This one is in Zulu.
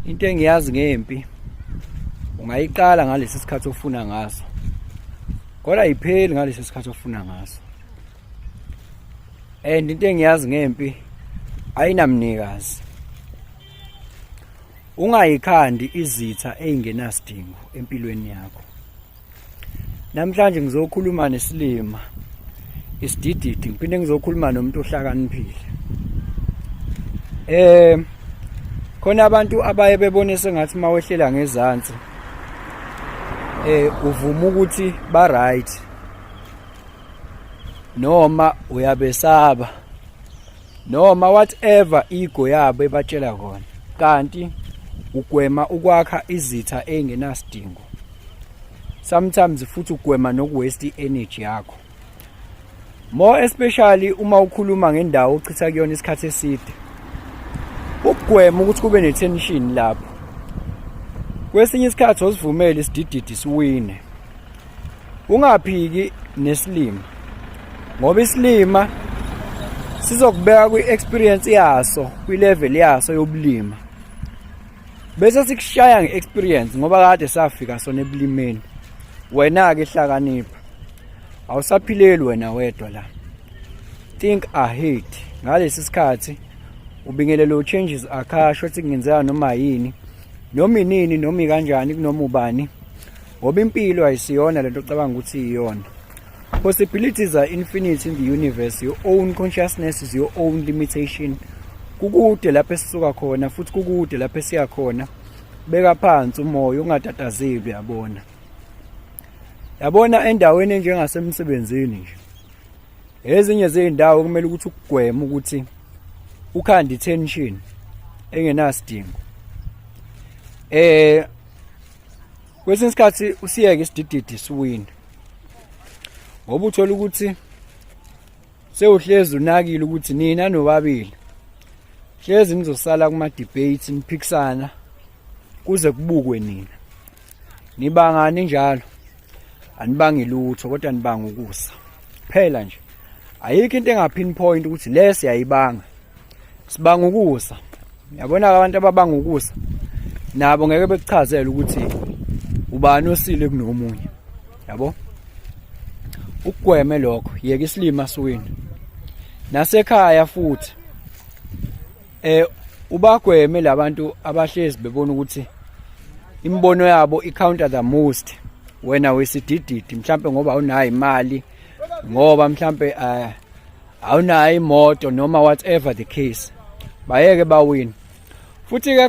into engiyazi ngempi ungayiqala ngalesi sikhathi ofuna ngaso kodwa ayipheli ngalesi sikhathi ofuna ngaso and into engiyazi ngempi ayinamnikazi ungayikhandi izitha eyingenasidingo empilweni yakho Namhlanje ngizokhuluma nesilima isidididi ngiphinde ngizokhuluma nomuntu ohlakaniphile. Eh khona abantu abaye bebone sengathi mawehlela ngezansi eh uvuma ukuthi ba right noma uyabesaba noma whatever ego yabo ebatshela kona kanti ugwema ukwakha izitha engenasidingo sometimes futhi ugwema nokuwaste energy yakho more especially uma ukhuluma ngendawo ochitha kuyona isikhathi eside ukugwema ukuthi kube netension lapho kwesinye isikhathi osivumele isidididi siwine ungaphiki nesilima ngoba isilima sizokubeka kwi-experience yaso kwi-level yaso yobulima bese sikushaya nge-experience ngoba kade safika sona ebulimeni wena-ke hlakanipha awusaphileli wena wedwa la think ahead ngalesi sikhathi ubingelela u-changes akhasho ethi kungenzeka noma yini noma inini noma ikanjani kunoma ubani ngoba impilo ayisiyona lento ocabanga ukuthi iyona Possibilities are infinite in the universe. Your own consciousness is your own limitation. Kukude lapho esisuka khona futhi kukude lapho esiya khona. Beka phansi umoya ungatatazeli uyabona. Yabona endaweni enjengasemsebenzini nje. Ezinye zezindawo kumele ukuthi ukugwema ukuthi ukhanda tension engenasidingo. Eh kwesinye isikhathi usiyeke isidididi siwini ngoba uthola ukuthi sewuhlezi unakile ukuthi nina nobabili hlezi nizosala kuma-debate niphikisana kuze kubukwe nina nibangani njalo anibangi lutho kodwa nibanga ukusa phela nje ayikho into engapinpoint ukuthi le siyayibanga sibanga ukusa yabona abantu ababanga ukusa nabo ngeke bekuchazele ukuthi ubani osile kunomunye yabo ukugweme lokho yeke isilima siwini nasekhaya futhi eh ubagweme labantu abahlezi bebona ukuthi imibono yabo icounter the most wena wesidididi mhlambe ngoba unayo imali ngoba mhlambe eh, awunayo imoto noma whatever the case bayeke bawini futhi ke